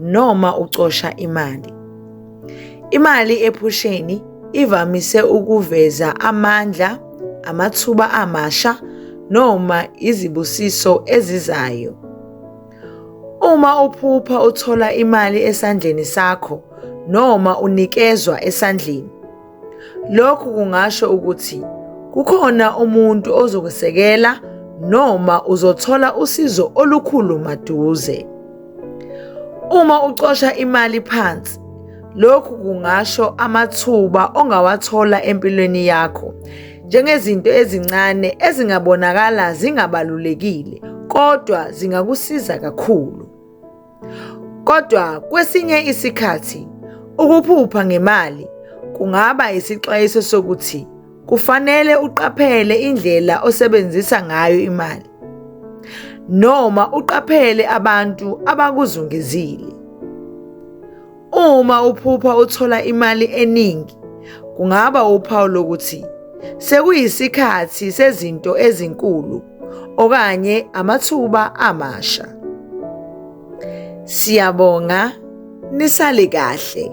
noma ucosha imali. Imali ephusheni ivamise ukuveza amandla, amathuba amasha noma izibusiso ezizayo. Uma uphupha uthola imali esandleni sakho noma unikezwa esandleni, Lokhu kungasho ukuthi kukhona umuntu ozokusekela noma uzothola usizo olukhulu maduze. Uma ucosha imali phansi, lokhu kungasho amathuba ongawathola empilweni yakho njengezinto ezincane ezingabonakala zingabalulekile kodwa zingakusiza kakhulu. Kodwa kwesinye isikhathi ukuphupha ngemali kungaba isixwayiso sokuthi kufanele uqaphele indlela osebenzisa ngayo imali noma uqaphele abantu abakuzungezile. Uma uphupha uthola imali eningi, kungaba uphawu lokuthi sekuyisikhathi sezinto ezinkulu okanye amathuba amasha. Siyabonga nisale kahle.